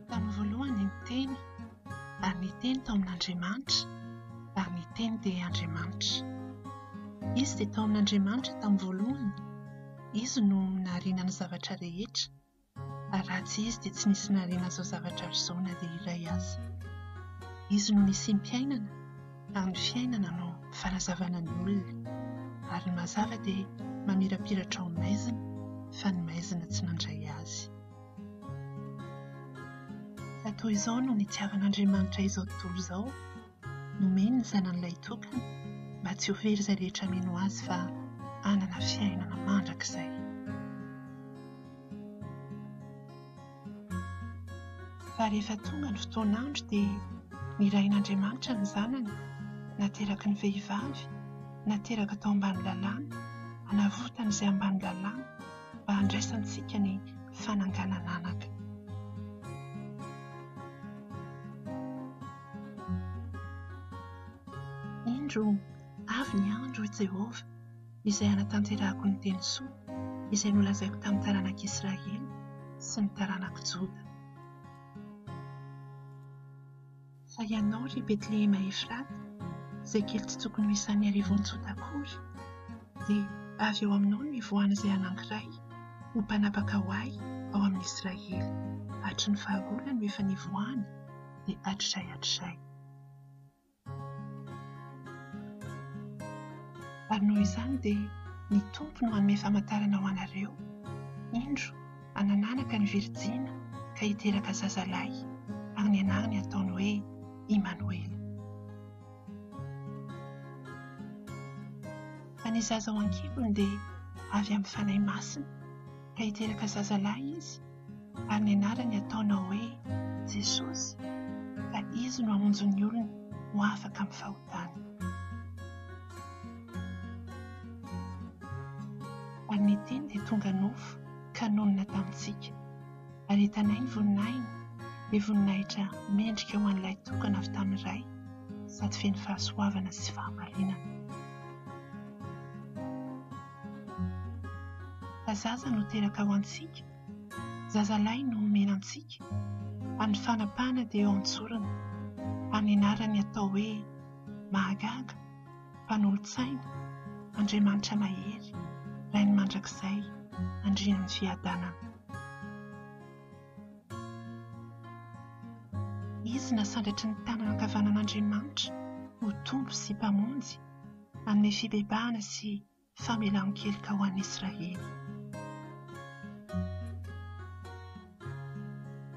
Tamin'ny voalohany ny Teny, ary ny Teny tao amin'Andriamanitra, ary ny Teny dia Andriamanitra. Izy dia tao amin'Andriamanitra tamin'ny voalohany, Izy no nahariana ny zavatra rehetra, ary raha tsy Izy dia tsy nisy nahariana izao zavatra ary izao na dia iray aza. Izy no nisiam-piainana. amin'ny fiainana no fanazavana ny olona, ary ny mazava dia mamirapiratra ao maizina fa ny maizina tsy mandray azy. Fa toy izao no nitiavan'Andriamanitra izao tontolo izao, nomeny ny Zanany Lahitokana mba tsy ho very izay rehetra mino Azy fa hanana fiainana mandrakizay. Fa rehefa tonga ny fotoan'andro dia nirahin'Andriamanitra ny Zanany nateraky ny vehivavy, nateraka tao ambany lalàna, hanavotana izay ambany lalàna mba handraisantsika ny fananganan'anaka. Indro avy ny andro, hoy Jehovah. izay hanatanterahako ny teny soa izay nolazaiko tamin'ny taranak'i Israely sy ny taranak'i Joda. Fa ianao, ry Betlehema Efrata, izay kely tsy tokony ho isan'ny arivony Joda akory, dia avy ao aminao no hivoahan'izay anankiray ho mpanapaka ho ahy ao amin'i Israely, hatry ny fahagola no efa nivoahany, dia hatrizay hatrizay. Ary noho izany dia ny Tompo no hanome famantarana ho anareo, Indro, hanananaka ny virjina ka hiteraka zaza lahy, ary ny anarany hataony hoe Imanoela. Fa ny zaza ao an-kibony dia avy amin'ny Fanahy Masina, ka hiteraka zaza lahy izy, ary ny anarany ataonao hoe Jesosy fa Izy no hamonjy ny olony ho afaka amin'ny fahotany. Ary ny Teny dia tonga nofo ka nonina tamintsika, ary hitanay ny voninahiny, ilay voninahitra mendrika ho an'ilay tokana avy tamin'ny Ray, sady feno fahasoavana sy fahamarinana. Fa zaza no teraka ho antsika, zazalahy no omena antsika, ary ny fanapahana dia eo an-tsorony, ary ny anarany atao hoe, Mahagaga, Mpanolo-tsaina, Andriamanitra Mahery, Rain'ny Mandrakizay, Andrian'ny Fiadanana. Izy nasandratry ny tanana ankavanan'Andriamanitra ho Tompo sy Mpamonjy, amin'ny fibebahana sy famelan-keloka ho an'i Israely.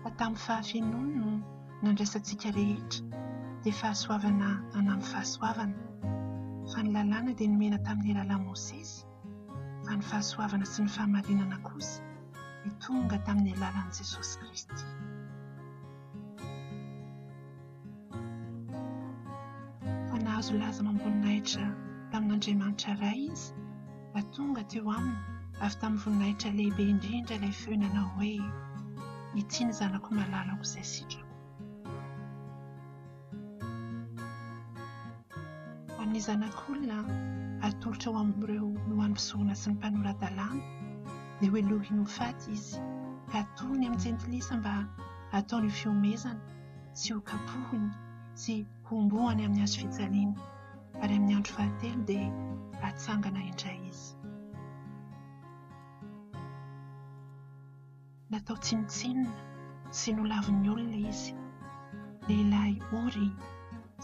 Fa tamin'ny fahafenoany no nandraisantsika rehetra, dia fahasoavana anampy fahasoavana. Fa ny lalàna dia nomena tamin'ny alalan'i Mosesy, fa ny fahasoavana sy ny fahamarinana kosa dia tonga tamin'ny alalan'i Jesosy Kristy. Fa nahazo laza amam-boninahitra tamin'Andriamanitra Ray izy fa tonga teo aminy avy tamin'ny voninahitra lehibe indrindra ilay feo nanao hoe, Ity ny Zanako malalako izay sitrako. Amin'ny Zanak'olona atolotra ho amin'ireo loham-pisorona sy ny mpanora-dalàna, dia hohelohiny ho faty izy, ka atorony amin'ny Jentilisa mba hataony ho fihomezana, sy ho kapohiny sy hombohany amin'ny hazo fijaliana, ary amin'ny andro fahatelo dia hatsangana indray izy. Natao tsinontsinona sy nolavin'ny olona izy, lehilahy ory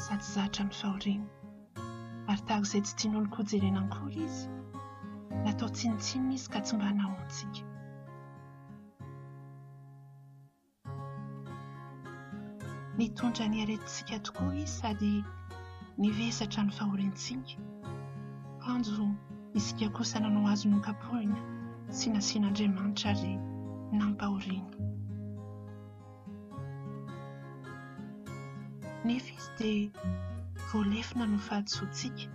sady zatra amin'ny fahoriana. Ary tahaka izay tsy tian'oloko hojerena akory izy, natao tsinontsinona izy ka tsy mba nahoantsika. Nitondra ny aretintsika tokoa Izy sady nivesatra ny fahoriantsika. Kanjo isika kosa nanao Azy nokapohina sy nasian'Andriamanitra ary nampahoriana. Nefa Izy dia voalefona noho fahadisoantsika.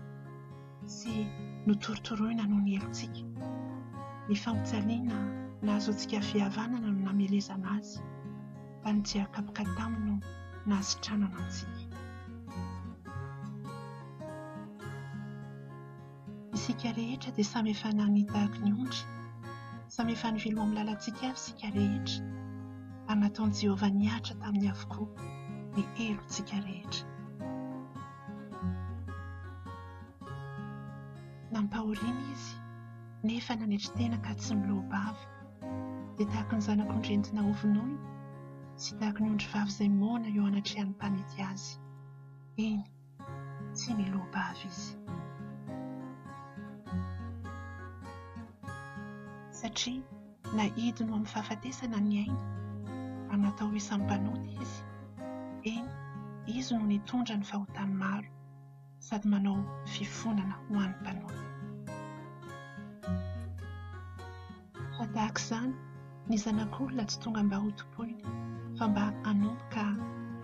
sy notorotoroina noho ny helotsika. Ny fampijaliana nahazoantsika fihavanana no namelezana azy, fa ny tsiakapoka taminy no nahasitranana antsika. Isika rehetra dia samy efa nania tahaka ny ondry, samy efa nivilo amin'ny lalantsika avy isika rehetra, ary nataon'i Jehovah nihatra taminy avokoa ny helotsika rehetra. Nampahoriana izy, nefa nanetry tena ka tsy niloa-bava. Dia tahaka ny zanak'ondry entina hovonoina, sy tahaka ny ondrivavy izay moana eo anatrehan'ny mpanety azy. Eny, tsy niloa-bava izy. Satria. Na hidiny ho amin'ny fahafatesana ny ainy, mba natao ho isan'ny mpanota izy. Eny, izy no nitondra ny fahotan'ny maro, sady manao fifonana ho an'ny mpanota. Fa tahaka izany, ny Zanak'olona tsy tonga mba hotompoina, fa mba hanompo ka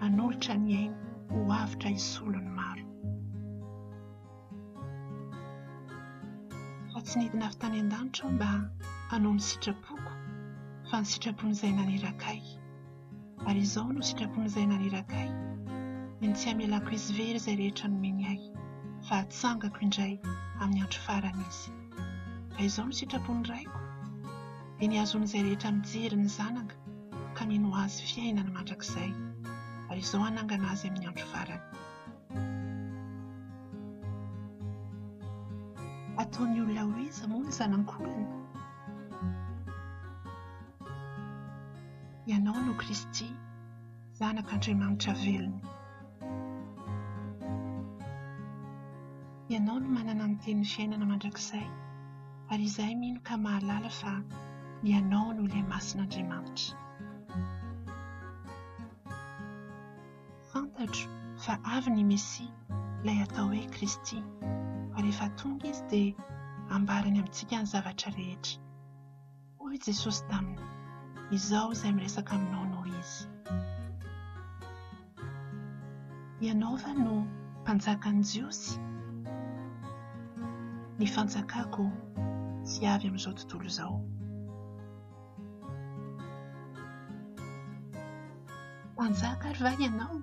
hanolotra ny ainy ho avotra hisolo ny maro. Fa tsy nidina avy tany an-danitra aho mba hanao ny sitrapoko, fa ny sitrapon'Izay naniraka ahy. Ary izao no sitrapon'Izay naniraka ahy, ny ny tsy hamelako hisy very izay rehetra nomeny ahy, fa hatsangako indray amin'ny andro farany izy. Fa izao no sitrapon'ny Raiko, dia ny hahazoan'izay rehetra mijery ny Zanaka ka mino Azy fiainany mandrakizay, ary izao hanangana azy amin'ny andro farany. Ataon'ny olona ho iza moa ny zanak'olona? Ianao no Kristy, Zanak'Andriamanitra velona. Ianao no manana ny Tenin'ny fiainana mandrakizay, ary izahay mino ka mahalala fa Ianao no Ilay Masin'Andriamanitra. Fantatro fa avy ny Mesia, ilay atao hoe Kristy, ary rehefa tonga izy dia hambarany amintsika ny zavatra rehetra. Hoy Jesosy taminy, Izao izay miresaka aminao no izy. Ianao va no mpanjakan'ny Jiosy? Ny fanjakako tsy avy amin'izao tontolo izao. Mpanjaka ary va ianao?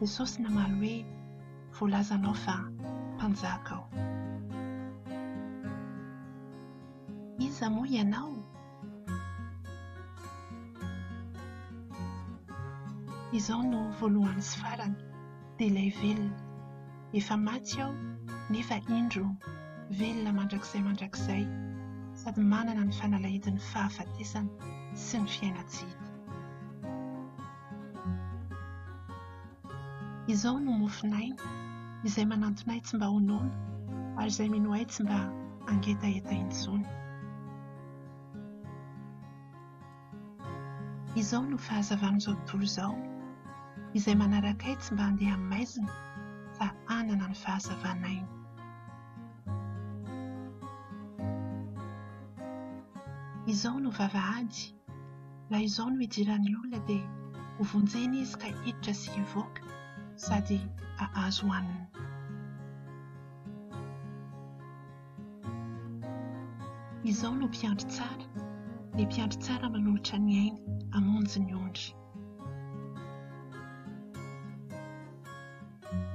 Jesosy namaly hoe, Voalazanao fa mpanjaka aho. Iza moa ianao? Izao no voalohany sy farany. dia ilay velona. Efa maty aho, nefa indro, velona mandrakizay mandrakizay, sady manana ny fanalahidin'ny fahafatesana sy ny fiaina-tsy hita. Izao no mofon'aina, izay manantona ahy tsy mba ho noana, ary izay mino ahy tsy mba hangetaheta intsony. Izao no fahazavan'izao tontolo izao, izay manaraka ahy tsy mba handeha amin'ny maizina fa hanana ny fahazavan'aina. Izao no vavahady, raha izao no hidiran'ny olona dia hovonjena izy ka hiditra sy hivoaka sady hahazo hanina. Izao no mpiandry tsara, ny mpiandry tsara manolotra ny ainy hamonjy ny ondry.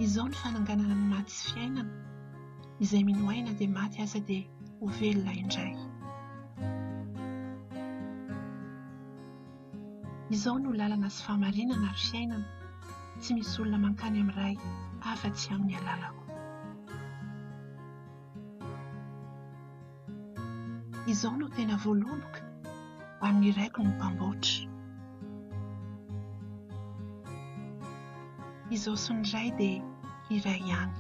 Izao ny fananganana ny maty sy fiainana, izay mino ahy na dia maty aza dia ho velona indray. Izao no lalana sy fahamarinana ary fiainana, tsy misy olona mankany amin'ny Ray afa-tsy amin'ny alalako. Izao no tena voaloboka, amin'ny iraiko no mpamboatra. Izao sy ny iray dia iray ihany.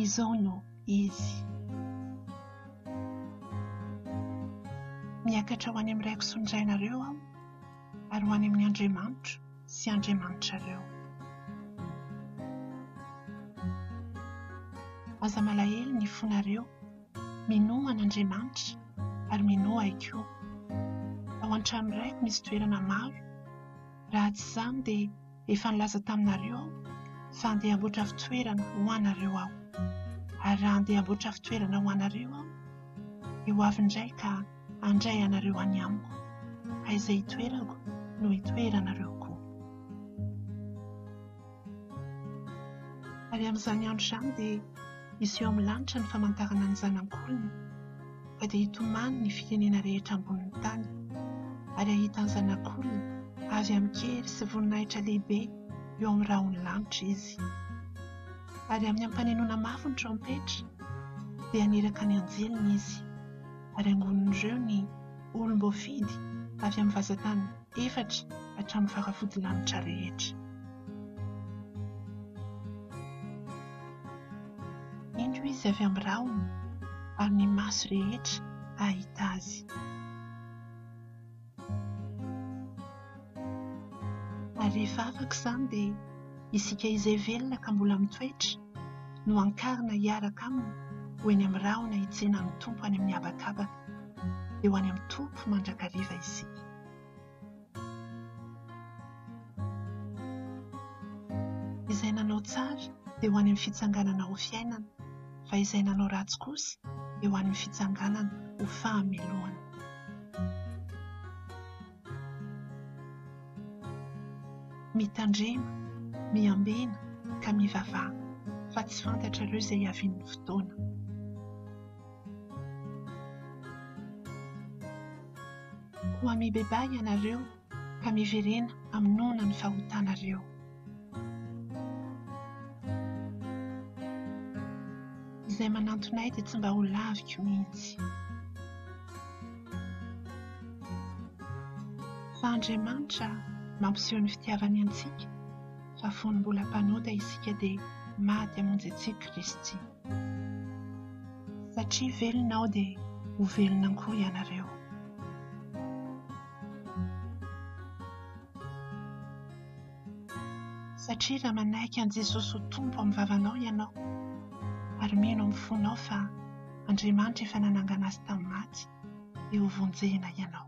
Izao no izy. Miakatra ho any amin'ny raiko sy ny rainareo aho, ary ho any amin'Andriamanitro. sy Andriamanitrareo. Aza malahelo ny fonareo, minoa an'Andriamanitra ary minoa ahy koa. Ao an-trano raiko misy toerana maro, raha tsy izany dia efa nilaza taminareo aho fa andeha hamboatra fitoerana ho anareo aho. Ary raha andeha hamboatra fitoerana ho anareo aho, dia ho avy indray ka. Handray anareo any amiko. Fa izay hitoerako no hitoeranareo koa. Ary amin'izany andro izany dia hiseho amin'ny lanitra ny famantarana ny Zanak'olona, fa dia hitomany ny firenena rehetra ambonin'ny tany, ary hahita ny Zanak'olona avy amin-kery sy voninahitra lehibe eo amin'ny rahon'ny lanitra izy. Ary amin'ny ampanenoana mafy ny trompetra, dia haniraka ny anjeliny izy. ary angonin'ireo ny olom-boafidy avy amin'ny vazantany efatra hatramin'ny faravodilanitra rehetra. Indro izy avy amin'ny rahona, ary ny maso rehetra hahita azy. Ary rehefa afaka izany dia isika izay velona ka mbola mitoetra no hankarina hiaraka aminy ho eny amin'ny rahona hitsena ny Tompo any amin'ny habakabaka, dia ho any amin'ny Tompo mandrakariva isika. Izay nanao tsara dia ho any amin'ny fitsanganana ho fiainana. fa izay nanao ratsy kosa eo an'ny fitsanganana ho fahamelohana. Mitandrema, miambena ka mivavaha, fa tsy fantatrareo izay hiavian'ny fotoana. Koa mibebaha ianareo fa miverena amin'ny noana ny fahotanareo. Izay manantona ahy dia tsy mba ho laviko mihitsy. Fa Andriamanitra mampiseho ny fitiavany antsika fa fony mbola mpanota isika dia maty hamonjy antsika Kristy. Satria velona aho dia ho velona koa ianareo. Satria raha manaiky an'i Jesosy ho Tompo amin'ny vavanao ianao ary mino amin'ny fonao fa Andriamanitra efa nanangana Azy tamin'ny maty, dia hovonjena ianao.